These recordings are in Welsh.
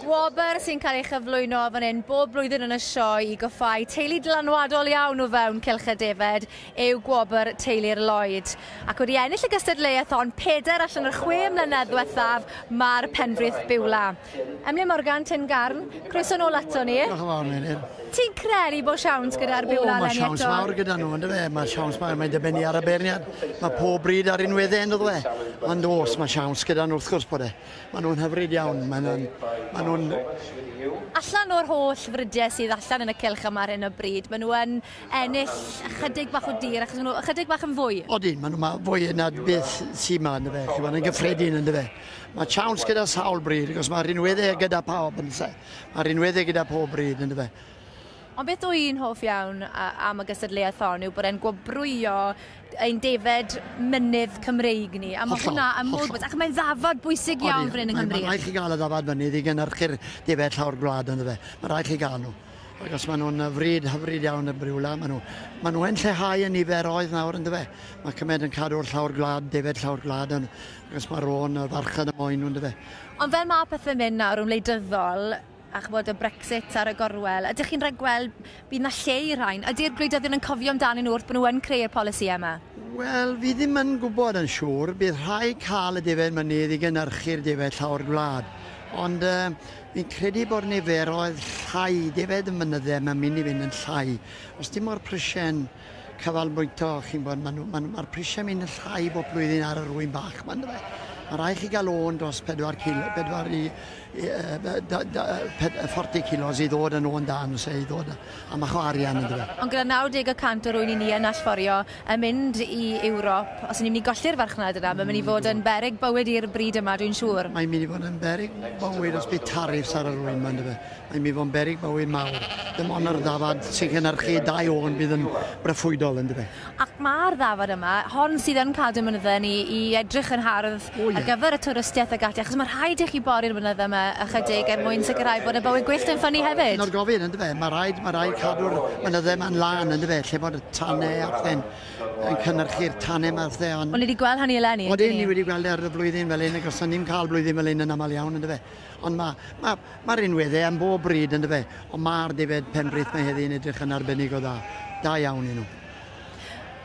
Gwobr sy'n cael ei chyflwyno fan hyn bob blwyddyn yn y sioe i goffau teulu dylanwadol iawn o fewn Cylch y Defaid yw gwobr Teulu'r Lloyd. Ac wedi ennill y gystadleuaeth hon pedair allan o'r chwe mlynedd diwethaf, mae'r Penfrith Biwla. Emlyn Morgan, Tyn Garn, croeso nôl ato ni. Diolch yn fawr, Meinir. Ti'n credu bod siawns gyda'r byw lalen eto? O, mae siawns mawr gyda nhw, ynddo fe. Mae siawns mawr, mae'n dibynnu ar y beirniad. Mae pob bryd ar un wedde, ynddo fe. Ond os mae siawns gyda nhw, wrth gwrs bod e. Mae nhw'n hyfryd iawn, mae nhw'n... Mae nhw'n... Allan o'r holl frydiau sydd allan yn y cilch yma ar hyn o bryd, mae nhw yn ennill ychydig bach o dir, achos maen nhw ychydig bach yn fwy. Odyn, maen nhw fwy yna beth sy'n yma, ynddo fe. Chi'n gwybod, yn gyffredin, ynddo fe. Mae siawns gyda sawl bryd, achos mae rhinweddau gyda pawb yn lle. Mae rhinweddau gyda pob bryd yn dyfe. Ond beth dwi yn hoff iawn am y gystadleuaeth hon yw bod e'n gwobrwyo ein defed mynydd Cymreig ni. A mae hwnna yn modd bod, ac mae'n ddafod bwysig iawn fan hyn yng Nghymru. Mae'n rhaid chi gael y ddafod mynydd i gynnyrchu'r defed llawr gwlad yn dyfe. Mae'n rhaid chi gael nhw. Ac os maen nhw'n fryd hyfryd iawn y briwla, maen nhw, maen Achos mae Ron a farchan y moen nhw, yn dyfe? Ond fel mae pethau'n mynd nawr yn wleidyddol, a chybod y Brexit ar y gorwel, ydych chi'n rhagweld bydd yna lle i'r rhain? Ydy'r gwleidyddion yn cofio amdanyn nhw wrth bod nhw yn creu'r polisïau yma? Wel, fi ddim yn gwybod yn siŵr. Bydd rhai cael y defaid mynydd i gynhyrchu'r defaid llawr gwlad. Ond uh, fi'n credu bod niferoedd llai defaid y mynyddau mae'n mynd i fynd yn llai. Os dim o'r prisiau canolbwyntio, chi'n gwybod, maen nhw, maen, mae'r prisiau mynd yn llai bob blwyddyn ar yr wyn bach, mae'n dweud. Mae rhaid chi gael o'n dros 4 kilo, 4 i, i uh, da, da, 40 kilos i ddod yn o'n dan, se, i ddod a mach o arian yn dweud. Ond gyda 90% o'r wyn i ni yn allforio yn mynd i Ewrop, os ni'n mynd i golli'r farchnad yna, mae'n mynd i fod yn berig bywyd i'r bryd yma, dwi'n siŵr. Mae'n mynd i fod yn berig bywyd os bydd tariffs ar yr wyn, mae'n dweud. I mi fo'n beryg bywyd mawr. Dim ond yr ddafad sy'n cynhyrchu dau ôn bydd yn broffwydol yndyfe? Ac mae'r ddafad yma, hon sydd yn cadw mynydde ni i edrych yn hardd ar gyfer y twristiaeth ac ati, achos mae rhaid i chi bori'r mynydde yma ychydig er mwyn sicrhau bod y bywyd gwyllt yn ffynnu hefyd. Dyna'r gofyn yndyfe? Mae rhaid, mae rhaid cadw'r mynydde yma'n lân yndyfe, lle bod y tanne a phethe'n yn cynhyrchu'r tanne yma a phethe ond... O'n ni wedi gweld hynny eleni, yndyn ni? Odyn, ni wedi gweld e ar y flwyddyn fel hyn ac os o'n ni'n cael blwyddyn fel hyn yn aml iawn yndyfe? Ond mae, mae, Mae'r un we dde am bob bryd, yn dyfe? Ond mae'r defaid penbritht mae heddi yn edrych yn arbennig o dda. Da iawn i nhw.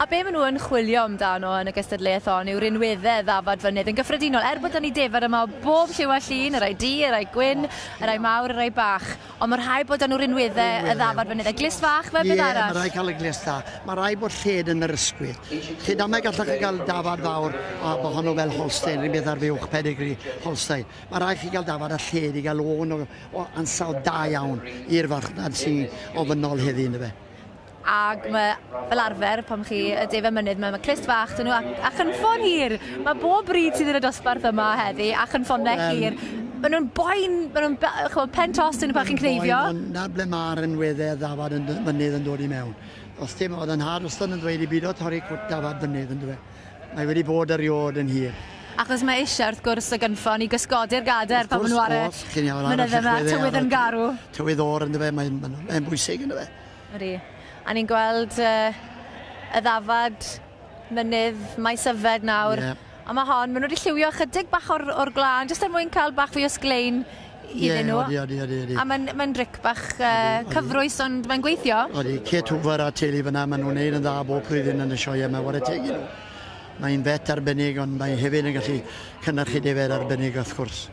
A be maen nhw yn chwilio amdano yn y gystadleuaeth hon yw rhinweddau ddafad fynydd yn gyffredinol. Er bod 'da ni defaid yma o bob lliw a llun, y rhai du, y rhai gwyn, y rhai mawr, y rhai bach, ond mae rhai bod 'da nhw rhinweddau y ddafad fynydd. A glust fach fel beth arall? Ie, mae rhai cael y glust dda. Mae rhai bod lled yn yr ysgwydd. Lled amau gallwch chi gael dafad fawr a bod honno fel Holstein, rhywbeth ar fuwch pedigree Holstein. Mae rhaid chi gael dafad a lled i gael lôn o o ansawdd da iawn i'r farchnad sy ofynnol heddi ynddo fe. Ac mae fel arfer pan chi y de fy mynydd mae ma' clust fach dyn nhw ac a chynffon hir! Mae bob bryd sydd yn y dosbarth yma heddi a chynffonne Wel- hir. Mae nhw'n boen mae nhw'n be- yy ch'mo' pen tost dyn nhw pan chi'n cneifio. Boen ond 'na ble ma'r ynwedde ddafad yn dy- mynydd yn dod i mewn. Os dim o'dd 'yn nhad wastod yn ddweud i bido torri cwt dafad mynydd yndyfe? Mae wedi bod eriôd yn hir. Achos mae eisiau, wrth gwrs, y gynffon i gysgodi'r gadair pan maen nhw ar y mynyddau yma, tywydd yn garw. Tywydd o'r ynddo fe, mae'n mae bwysig ynddo fe. Ydy. A ni'n gweld uh, y ddafad mynydd mae syfed nawr. Yeah. A mae hon, maen nhw wedi lliwio chydig bach o'r, or glân, jyst er mwyn cael bach fwy o sglein iddyn nhw. Ie, odi, odi, odi. A mae'n mae bric bach uh, cyfrwys, ond mae'n gweithio. Odi, Kate Hoover a teulu fyna, maen nhw'n neud yn dda bob prydyn yn y sioia yma, wara teg nhw. Mae'n bet arbennig, ond mae hefyd yn gallu cynnyrchu defed arbennig, wrth gwrs.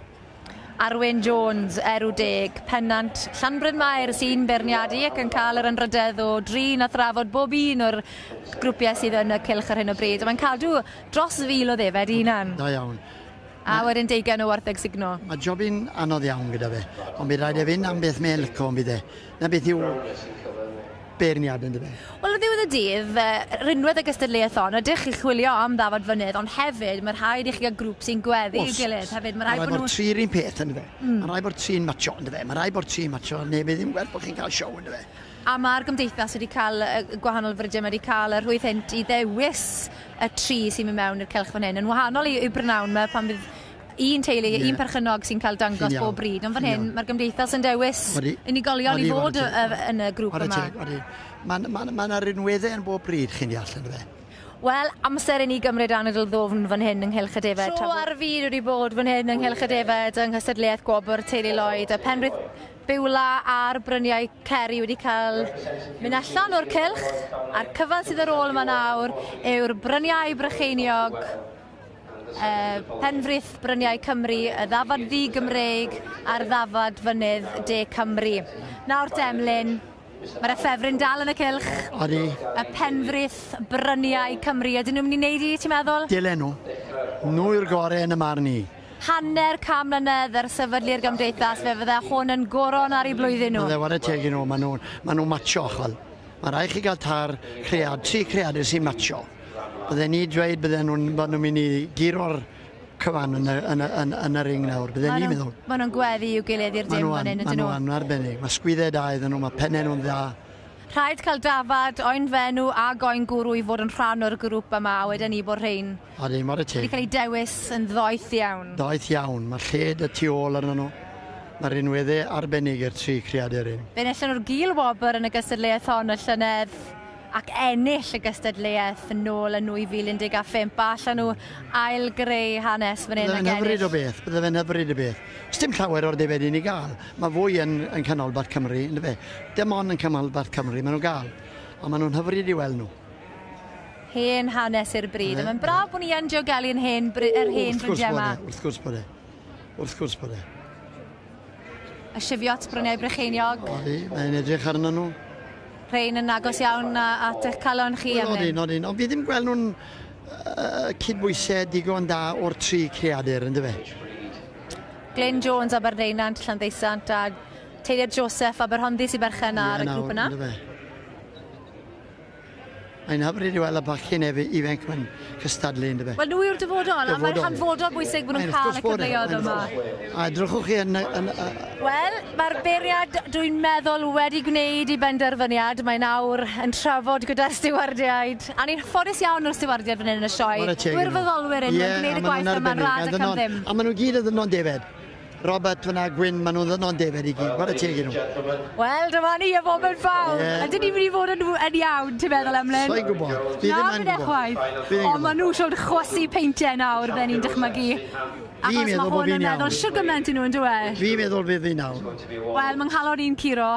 Arwyn Jones, Erw Deg, Pennant, Llanbryn Mair sy'n berniadu ac yn cael yr ynrydedd o drin a thrafod bob un o'r grwpiau sydd yn y cylch ar hyn o bryd. Mae'n cadw dros fil o ddefed i hunan. Da iawn. A wedyn deugain o wartheg sugno. Mae job yn anodd iawn gyda fe, ond bydd rhaid e fynd am beth mae'n lico yn bydd e? 'Na beth yw beirniad yn dyfe? Wel ar ddiwedd y dydd, fe rinwed y gystadleuaeth hon, ydych chi'n chwilio am ddafad fynydd, ond hefyd mae rhaid i chi gael grŵp sy'n gweddu i'w gilydd hefyd, mae rhaid bod nhw... Mae rhaid bod tri yr un peth yn dyfe? Mae rhaid bod tri'n matsio yn dyfe? Mae rhaid bod tri'n matsio neu bydd ddim gwerth bod chi'n cael siow yn dyfe? A mae'r gymdeithas wedi cael, y gwahanol frydiau, mae wedi cael y rhwydd hynt i ddewis y tri sy'n mynd mewn i'r cylch fan hyn. Yn wahanol i, i Brynawn, mae pan bydd un teulu, yeah. un perchynog sy'n cael dangos bob bryd. Ond fan hyn, mae'r gymdeithas yn dewis odi, unigolion odi, i fod odi, odi, yn y grŵp yma. Mae'n ma, ma, ma rinweddau yn bob bryd, chi'n deall, yn fe? Wel, amser i ni gymryd anadl ddofn fan hyn yng Nghylch y Defed. Tro ar y fyd wedi bod fan hyn yng Nghylch y Defed yng nghystadleuaeth gwobr Teulu Lloyd a Penrith Beulah a'r bryniau ceri wedi cael mynd allan o'r cylch a'r cyfan sydd ar ôl yma nawr yw'r bryniau Brycheiniog, uh, Penfrith Bryniau Cymru, y ddafad ddi-Gymreig a'r ddafad fynydd de Cymru. Nawr Demlyn, Mae'r effefryn dal yn y cylch. Odi. Y penfrith bryniau Cymru. Ydyn nhw'n mynd i wneud i, ti'n meddwl? Dylen nhw. Nhw yw'r gorau yn y marn i. Hanner can mlynedd ers sefydlu'r Gymdeithas, fe fydde hwn yn goron ar ei blwyddyn nhw. Bydde, ware teg i nhw, maen nhw'n ma nhw macho, chwel. Mae rhaid chi gael tair cread, tri creadur sy'n macho. Bydden ni dweud bydden nhw'n bod nhw'n mynd i guro'r cyfan yn y, yn y, yn, yn y ring nawr, bydden ni'n meddwl. Mae nhw'n gweddi i'w gilydd i'r dim fan hyn, ydyn nhw? Mae nhw'n arbennig, mae sgwyddau da iddyn nhw, mae pennau nhw'n dda. Rhaid cael dafad, oen fenw a goen gwrw i fod yn rhan o'r grŵp yma, a wedyn ni bod rhain... A ddim ar y teg. ...wedi cael ei dewis yn ddoeth iawn. Doeth iawn, mae lled y tu ôl arnyn nhw. Mae rhinweddau arbennig i'r tri creadur hyn. Fe enillon nhw'r Gil Wobr yn y gystadleuaeth hon y llynedd. ac ennill y gystadleuaeth nôl yn 2015 a allan nhw ail-greu hanes fan hyn ac ennill. Bydde fe'n hyfryd o beth, bydde fe'n hyfryd o beth. Sdim llawer o'r defaid i ni gael. Mae fwy yn, yn canolbarth Cymru, yn dyfe? Dim ond yn canolbarth Cymru maen nhw'n gael. A maen nhw'n hyfryd i weld nhw. Hen hanes i'r bryd. A mae'n braf bod ni yn diogelu yn hen, yr hen brydiau yma. Wrth gwrs bod e. Wrth gwrs bod e. A sifio at bryniau Brycheiniog? Odi, mae'n edrych arnyn nhw. Rhain yn agos iawn at eich calon chi am hyn? Nodyn, nodyn. Ond fi ddim gweld nhw'n uh, cydbwysau digon da o'r tri creadur, ynddo fe? Glenn Jones, Aberdeunant, Llanddeisant, a Teiliad Joseph, Aberhonddu, sy'n berchen ar y grŵp yna. Ynddo fe? Mae'n hyfryd i weld y bachgen ef ifanc mae'n cystadlu yn dyfe? Wel nhw yw'r dyfodol, a mae'n hanfodol bwysig bod nhw'n cael y cyfleoedd yma. A edrychwch chi yn... yn uh... Wel, mae'r beiriad dwi'n meddwl wedi gwneud i benderfyniad. Mae'n awr yn trafod gyda'r stiwardiaid. A ni'n ffodus iawn o'r stiwardiaid fan hyn yn y sioe. Gwirfoddolwyr yn yeah, gwneud y gwaith yma'n rad ac am ddim. A maen nhw gyd yn ddynod defaid. Robert fyna, Gwyn, maen nhw'n ddynod defyd i gyd, what a teg i nhw. Wel, dyma ni, y foment fawr. Yeah. Ydyn ni'n mynd i fod yn, yn iawn, ti'n meddwl, Emlyn? So'n gwybod. Fi ddim yn gwybod. chwaith. Ond maen nhw siwr chwysu peintiau nawr, fe ni'n dychmygu. Achos mae hwn yn meddwl siwr gymaint i nhw, yn dweud? Fi meddwl fe fi nawr. Wel, mae nghalon i'n curo.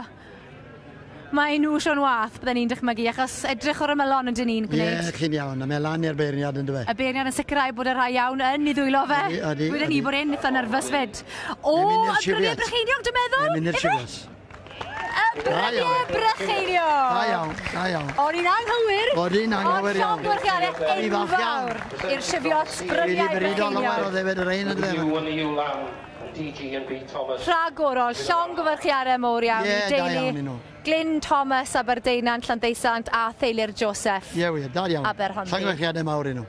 Mae enw Siôn Wath, bydden i'n dychmygu, achos edrych o'r ymylon ydyn ni'n gwneud... Ie, chi'n iawn, a mae lan i'r beirniad yn dyw e? Y beirniad yn sicrhau bod y rhai iawn yn ei ddwylo fe. Ydy, ydy. Weden i bod e'n itha nyrfys fyd. O, y brynie brycheiniog dwi'n meddwl! Mae'n mynd i'r siwias. Y brynie brycheiniog! Da iawn, da iawn. O'n i'n anghywir. O'n i'n anghywir iawn. Ond llond gwrchianau enfawr i'r siwios bryniau brycheiniog. Wedi brydo lawer o ddefed yr ein yn dweud. Wedi brydo lawer o ddefed yr ein yn dweud. Rhagorol! Llongyfarchiadau mowr iawn i deulu Glyn Thomas, Aberdeinan, Llandeusant a theulu'r Joseph, Aberhonddu. Llongyfarchiadau mawr i nhw.